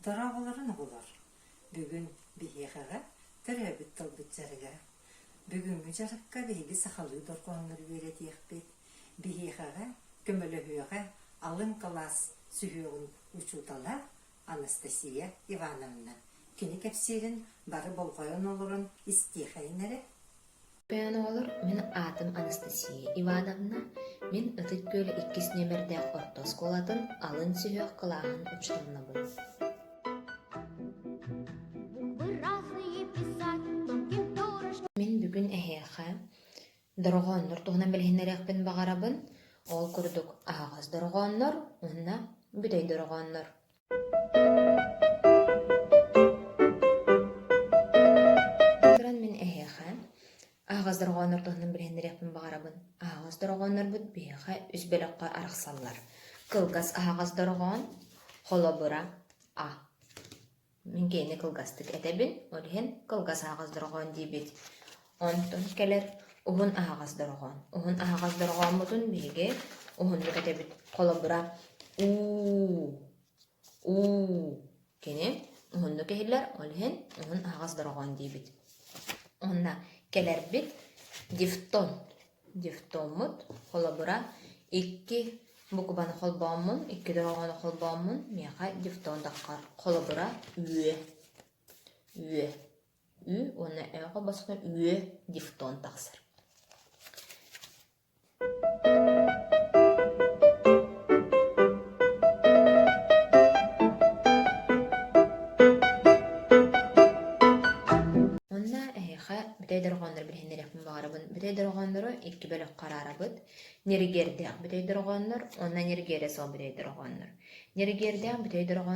Дорооболорун оҕолор! Бүгүн биһиэхэҕэ төрөөбүт тылбыт дьарыга. Бүгүҥҥү дьарыкка биһиги сахалыы дорҕооннору үөрэтиэхпит. Биһиэхэҕэ, көмөлөһүөҕэ алын кылаас сүһүөҕүн учуутала Анастасия Ивановна. Кини кэпсиирин бары болҕойон олорон истиэхэйин эрэ. Ойооноҕолор мин аатым Анастасия Ивановна, мин Ытык Күөл иккис нүөмэрдээх орто оскуолатын алын сүһүөх кылааһын учуоннабын Мин бүгүн эһиэхэ дорҕооннор туһунан билиһиннэриэхпин баҕарабын. Ол курдук аһаҕас дорҕооннор уонна бүтэй дорҕооннор. Туран мин эһиэхэ аһаҕас дорҕооннор туһунан билиһиннэриэхпин баҕарабын. Аһаҕас дорҕооннорбут биһиэхэ үс бөлөххө арахсаллар. Кылгас аһаҕас дорҕоон, холобура, а. Мин киһини кылгастык этэбин, ол иһин кылгас аһаҕас дорҕоон диибит. Онтон кэлэр уһун аһаҕас дорҕоон. Уһун аһаҕас дорҕооммутун биһиги уһуннук этэбит. Холобура, уу, уу. Кини уһуннук иһиллэр, ол иһин уһун аһаҕас дорҕоон диибит. Онно кэлэрбит дифтон. Дифтоммут, холобура, икки букубаны холбооммун, икки дорҕоону холбооммун миэхэ дифтон таккар. Холобура, үө. Үө. ү уонна өөҕө босхо үө дифтон тахсар онно эһиэхэ бүтэй дорҕооннору билиһиннэриэхпин баҕарабын бүтэй дорҕооннору икки бөлөххө араарабыт нэригиэрдээх бүтэй дорҕооннор уонна нэригиэрэ суох бүтэй дорҕооннор нэригиэрдээх бүтэй дорҕоон